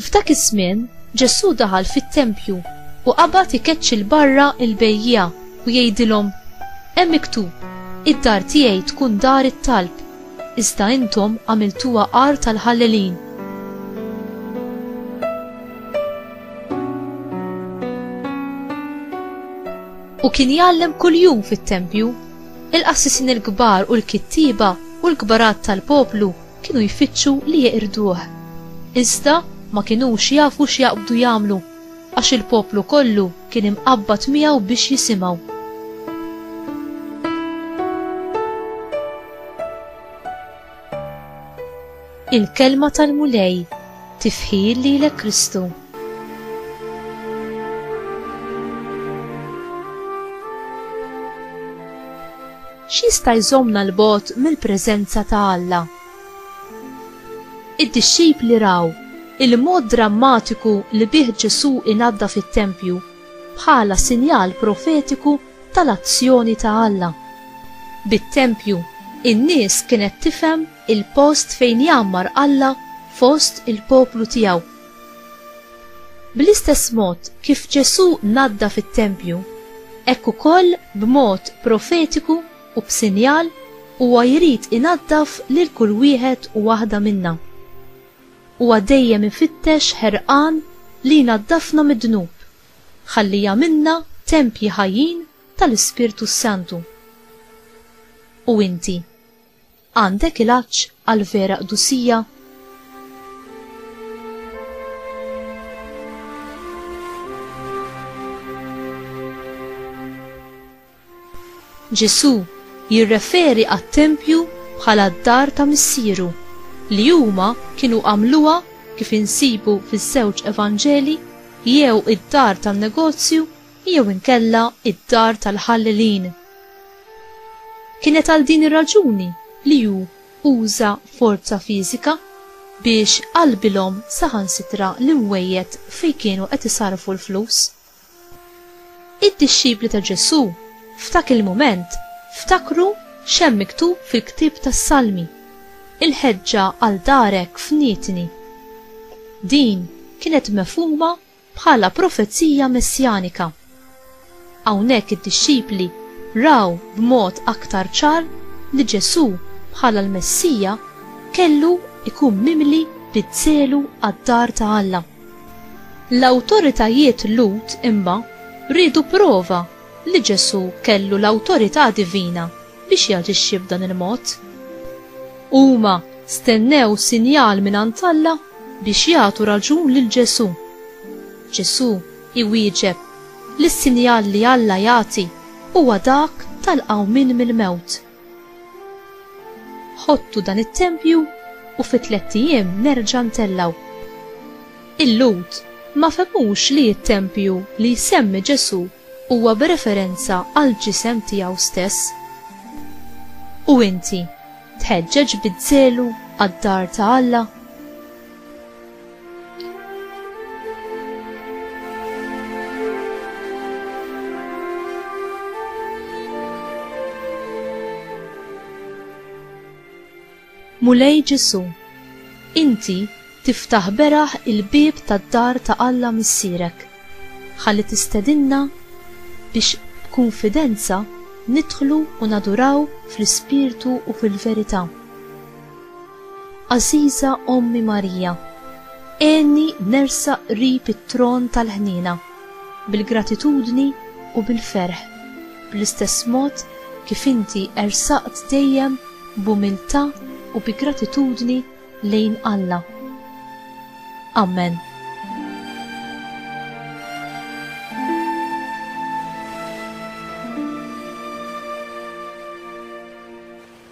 F'dak iż-żmien, Ġesù daħal fit-tempju u qabad ikeċċi 'l barra l-bejjiegħa u jgħidilhom, Hemm miktub, 'Id-dar tiegħi tkun dar it-talb', iżda intom għamiltuha għar tal-ħallelin. U kien jgħallem kuljum fit-tempju. Il-qassisin il-kbar u l-kittieba u l-kbarat tal-poplu kienu jfittxu li jeqirduh. Iżda ma kinux jafu x'jaqbdu jagħmlu, għax il-poplu kollu kien imqabbad miegħu biex jisimgħu. Il-Kelma tal-Mulej, tifħir lilek Kristu. X'jista' jżommna 'l bogħod mill-preżenza ta' Alla? Id-dixxipli raw il-mod drammatiku li bih Ġesù inaddaf it-tempju bħala sinjal profetiku tal-azzjoni ta' Alla. Bit-tempju, in-nies kienet tifhem il-post fejn jgħammar Alla fost il-poplu tiegħu. Bl-istess mod kif Ġesù naddaf it-tempju, hekk ukoll b'mod profetiku u b'sinjal huwa jrid inaddaf lil kull wieħed u waħda minna. Huwa dejjem ifittex ħerqan li jnaddafna mid-dnub, ħalli jagħmilna tempji ħajjin tal-Ispirtu s-Santu. U inti? Għandek il-għatx għal vera qdusija? Ġesù jirreferi għat-tempju bħala d-dar ta' missieru li huma kienu għamluha kif insibu fiż-żewġ Evanġeli jew id-dar tan-negozju jew inkella id-dar tal-ħallelin. Kienet għal din ir-raġuni li hu uża forza fiżika biex qalbilhom saħansitra l-imwejjed fejn kienu qed isarrfu l-flus. Id-dixxipli ta' Ġesù f'dak il-mument ftakru x'hemm miktub fil-ktieb tas-Salmi, Il-ħeġġa għal darek fnitni. Din kienet mefhuma bħala profezija messjanika. Hawnhekk id-dixxipli raw b'mod aktar ċar li Ġesù bħala l-Messija kellu jkun mimli bi żelu għad-dar ta' Alla. L-awtoritajiet Lhud imma riedu prova li Ġesù kellu l-awtorità divina biex jaġixxi b'dan il-mod. Huma stennew sinjal mingħand Alla biex jagħtu raġun lil Ġesù. Ġesù iwieġeb li s-sinjal li Alla jagħti huwa dak tal-qawmien mill-mewt. Ħottu dan it-tempju u fi tlett ijiem nerġa' ntellgħu. Il-Lhud ma fehmux li t-tempju li jsemmi Ġesù huwa b'referenza għall-ġisem tiegħu stess. U inti, tħeġġeġ biż-żelu għad-dar ta' Alla? Mulej Ġesu, inti tiftaħ beraħ il-bieb tad-dar ta' Alla Missierek, ħalli tistedinna biex b'kunfidenza nidħlu u naduraw fl-ispirtu u fil-verità. Għażiża Ommi Marija, għenni nersaq qrib it-tron tal-ħniena, bil-gratitudni u bil-ferħ, bl-istess mod kif inti ersaqt dejjem b'umiltà u bi gratitudni lejn Alla. Amen.